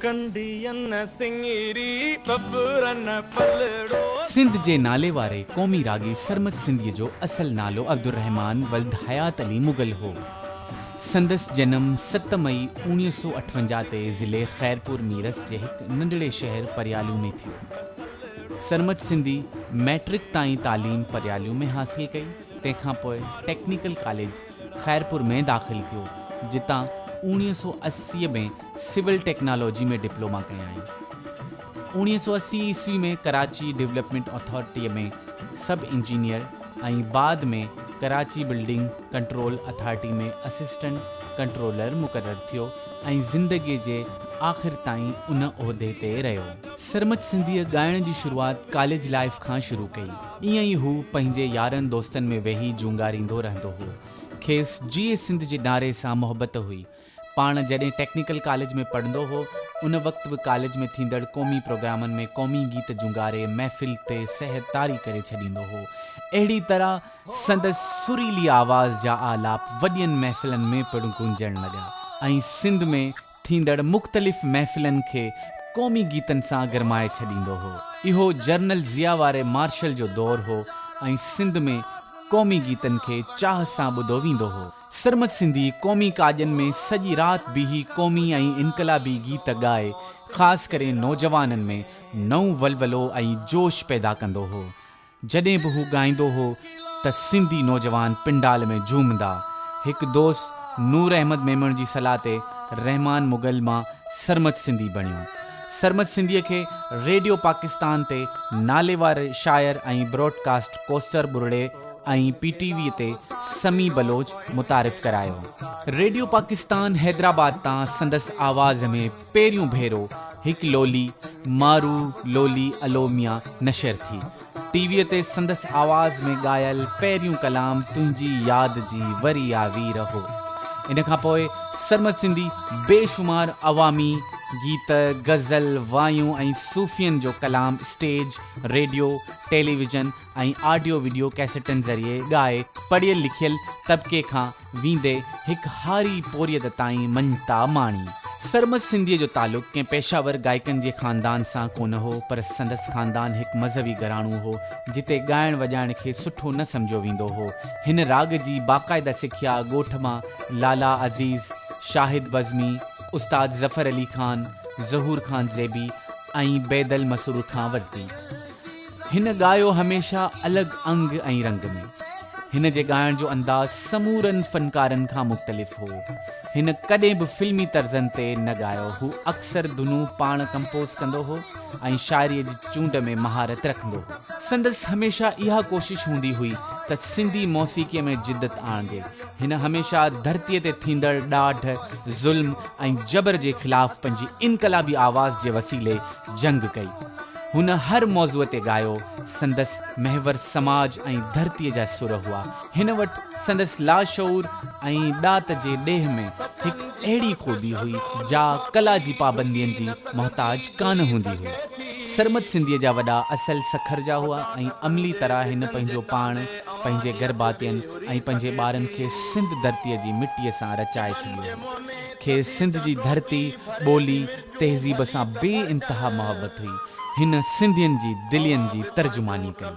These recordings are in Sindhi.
ڪنڍين سنڱري ٻٻرن پلڙو ٿي. سنڌ جي ناليواري قومي راڳي سرمد سنڌيء جو اصل نالو عبدالرحمان ولد حيات علي مغل هو. سندس جنم ست مئي اوڻيهه سؤ اٺونجاهه تي ضلعي خيرپور ميرس جي هڪ ننڍڙي شهر پرياليون ۾ ٿيو. سرمد سنڌي مئٽرڪ تائين تعليم پرياليون ۾ حاصل ڪئي، تنهن کانپوء ٽيڪنيڪل ڪاليج، خيرپور ۾ داخل ٿيو، جتان اوڻيهه سؤ اسي ۾ سول ٽيڪنالاجي ۾ ڊپلوما ڪيائين. اوڻيهه سؤ اسي عيسوي ۾ ڪراچي ڊولپمينٽ اٿارٽيء ۾ سب انجنيئر ۽ بعد ۾ Karachi building control authority ۾ assistant controller مقرر ٿيو ۽ زندگيء جي آخر تائين ان عهدي تي رهيو. سرمچ سنڌيء ڳائڻ جي شروعات ڪاليج لائيف کان شروع ڪئي. ائين ئي هو پنهنجي يارن دوستن ۾ ويهي جونگاريندو رهندو هو. کيس جيئي سنڌ جي نعري سان محبت هئي. پاڻ جڏهن ٽيڪنيڪل ڪاليج ۾ پڙهندو هو، ان وقت به ڪاليج ۾ ٿيندڙ قومي پروگرامن ۾ قومي گيت جونگاري محفل تي سحر طاري ڪري ڇڏيندو هو. اهڙي طرح سندس سريلي آواز جا آلاپ وڏين محفلن ۾ پڻ گونجڻ لڳا ۽ سنڌ ۾ ٿيندڙ مختلف محفلن کي قومي گيتن سان گرمائي ڇڏيندو هو. اهو جرنل ضياء واري مارشل جو دور هو ۽ سنڌ ۾ قومي گيتن کي چاهه سان ٻڌو ويندو هو. سرمد سنڌي قومي ڪاڄن ۾ سڄي رات بيهي قومي ۽ انقلابي گيت ڳائي خاص ڪري نوجوانن ۾ نئون ولولو ۽ جوش پيدا ڪندو هو. جڏهن به هو ڳائيندو هو ته سنڌي نوجوان پنڊال ۾ جهومندا. هڪ دوست نور احمد ميمڻ جي صلاح تي رحمان مغل مان سرمچ سنڌي بڻيو. سرمچ سنڌيء کي ريڊيو پاڪستان تي ناليوار شاعر ۽ براڊ ڪاسٽ ڪوسٽر ٻرڙي ۽ پي ٽي ويء تي سمي بلوچ متعارف ڪرايو. ريڊيو پاڪستان حيدرآباد تان سندس آواز ۾ پهريون ڀيرو هڪ لولي مارو لولي الوميا نشر ٿي. ٽي ويء تي سندس آواز ۾ ڳايل پهريون ڪلام تنهنجي ياد جي وري آ وير هو. ان کان پوء سرمد سنڌي بيشمار عوامي گيت، غزل، وايون ۽ صوفين جو ڪلام stage, radio, television, ۽ audio video ڪيسٽن ذريعي ڳائي پڙهيل لکيل طبقي کان ويندي هڪ هاري پورهيت تائين مڃتا ماڻي. سرمد سنڌيء جو تعلق ڪنهن پيشه ور ڳائڪن جي خاندان سان ڪونه هو پر سندس خاندان هڪ مذهبي گهراڻو هو جتي ڳائڻ وڄائڻ کي سٺو نه سمجهيو ويندو هو. هن راڳ جي باقاعده سکيا ڳوٺ مان لالا عزيز، شاهد بزمي، استاد ظفر علي خان، ظهور خان زيبي ۽ بيدل مسرور کان ورتي. هن ڳايو هميشه الڳ انگ ۽ رنگ ۾. هن جي ڳائڻ جو انداز سمورن فنڪارن کان مختلف هو. هن ڪڏهن به فلمي طرزن تي نه ڳايو. هو اڪثر ڌنون پاڻ ڪمپوز ڪندو هو ۽ شاعريء جي چونڊ ۾ مهارت رکندو هو. سندس هميشه اها ڪوشش هوندي هئي ته سنڌي موسيقيء ۾ جدت آڻجي. هن هميشه ڌرتيء تي ٿيندڙ ڏاڍ، ظلم ۽ جبر جي خلاف پنهنجي انقلابي آواز جي وسيلي جنگ ڪئي. هن هر موضوع تي ڳايو. سندس محور سماج ۽ ڌرتيء جا سر هئا. هن وٽ سندس لاشعور ۽ ڏات جي ڏيهه ۾ هڪ اهڙي خوبي هئي، جا ڪلا جي پابندين جي محتاج ڪانه هوندي هئي. سرمد سنڌيء جا وڏا اصل سکر جا هئا ۽ عملي طرح هن پنهنجو پاڻ، پنهنجي گرڀاتين ۽ پنهنجي ٻارن کي سنڌ ڌرتيء جي مٽيء سان رچائي ڇڏيو هو. کيس سنڌ جي ڌرتي، ٻولي، تهذيب سان بي انتها محبت هئي. هن سنڌين جي دلين جي ترجماني ڪئي.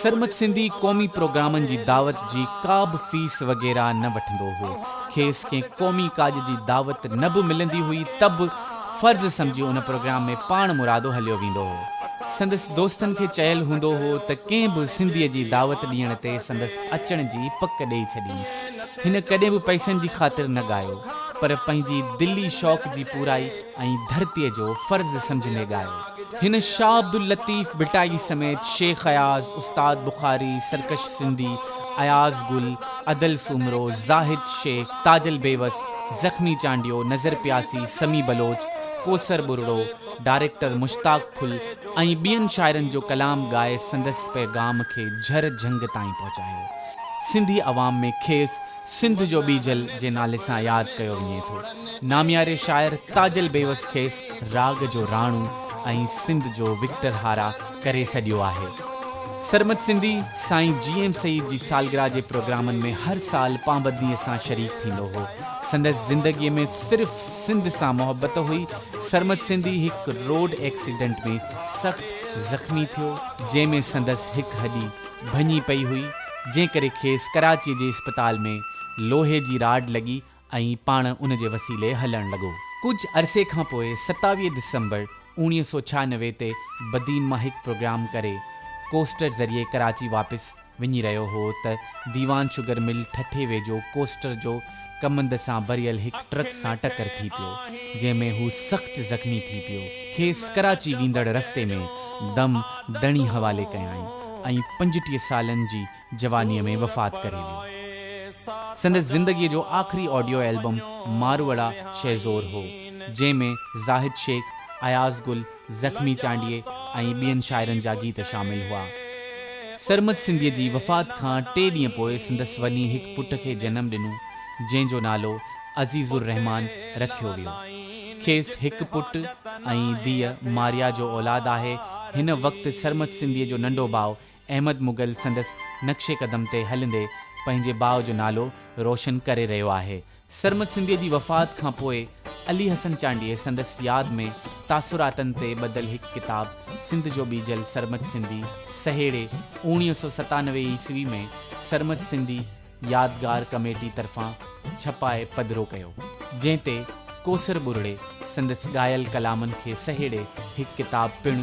سرمد سنڌي قومي پروگرامن جي دعوت جي ڪابه فيس وغيره نه وٺندو هو. کيس ڪنهن قومي ڪاڄ جي دعوت نه به ملندي هئي ته به فرض سمجهي ان پروگرام ۾ پاڻ مرادو هليو ويندو هو. سندس دوستن کي چيل هوندو هو ته ڪنهن به سنڌيء جي دعوت ڏيڻ تي سندس اچڻ جي پڪ ڏئي ڇڏين. هن ڪڏهن به پئسن جي خاطر نه ڳايو، پر پنهنجي دلي شوق جي پورائي ۽ ڌرتيء جو فرض سمجهندي ڳايو. هن شاهه عبداللطيف ڀٽائي سميت شيخ اياز، استاد بخاري، سرڪش سنڌي، اياز گل، ادل سومرو، زاهد شيخ، تاجل بيوس، زخمي چانڊيو، نظر پياسي، سمي بلوچ، ڪوثر ٻرڙو، ڊائريڪٽر مشتاق ڦل ۽ ٻين شاعرن جو ڪلام ڳائي سندس پيغام کي جهر جهنگ تائين پهچايو. سنڌي عوام ۾ کيس سنڌ جو ٻيجل جي نالي سان ياد ڪيو وڃي ٿو. نامياري شاعر تاجل بيوس کيس راڳ جو راڻو ۽ سنڌ جو وڪٽر هارا ڪري سڏيو آهي. سرمد سنڌي سائين جي ايم سيد جي سالگرهه جي پروگرامن ۾ هر سال پابنديء سان شريڪ ٿيندو هو. سندس زندگيء ۾ صرف سنڌ سان محبت هئي. سرمد سنڌي هڪ روڊ ايڪسيڊنٽ ۾ سخت زخمي ٿيو. جنهن ۾ سندس هڪ هڏي ڀڃي پئي هئي، جنهن ڪري کيس ڪراچيء جي اسپتال ۾ لوهي جي راڊ لڳي ۽ پاڻ ان جي وسيلي هلڻ لڳو. ڪجهه عرصي کان پوء ستاويهه ڊسمبر اوڻيهه سؤ ڇهانوي تي بدين مان هڪ پروگرام ڪري ڪوسٽر ذريعي ڪراچي واپس وڃي رهيو هو ته ديوان شگر مل ٺٽي ويجهو ڪوسٽر جو ڪمند سان ڀريل هڪ ٽرڪ سان ٽڪر ٿي پيو جنهن ۾ هو سخت زخمي ٿي پيو کيس ڪراچي ويندڙ رستي ۾ دم دڻي حوالي ڪيائين ۽ پنجٽيهه سالن جي جوانيء ۾ وفات ڪري ويو سندس زندگيء جو آخري آڊيو البم ماروئڙا شهزور هو جنهن ۾ زاهد شيخ اياز گل زخمي چانڊيي ۽ ٻين شاعرن جا گيت شامل هئا. سرمد سنڌيء جي وفات کان ٽي ڏينهن پوء سندس وڃي هڪ پٽ کي جنم ڏنو، جنهن جو نالو عزيز الرحمان رکيو ويو. کيس هڪ پٽ ۽ ڌيء ماريا جو اولاد آهي. هن وقت سرمد سنڌيء جو ننڍو ڀاء احمد مغل سندس نقش قدم تي هلندي پنهنجي ڀاء جو نالو روشن ڪري رهيو آهي. سرمد سنڌيء جي وفات کان پوء علي حسن چانڊيي سندس ياد ۾ تاثراتن تي ٻڌل هڪ ڪتاب سنڌ جو ٻيجل سرمد سنڌي سهيڙي اوڻيهه سؤ ستانوي عيسوي ۾ سرمد سنڌي يادگار ڪميٽي طرفان ڇپائي پڌرو ڪيو، جنهن تي ڪوثر ٻرڙي سندس ڳايل ڪلامن کي سهيڙي هڪ ڪتاب پڻ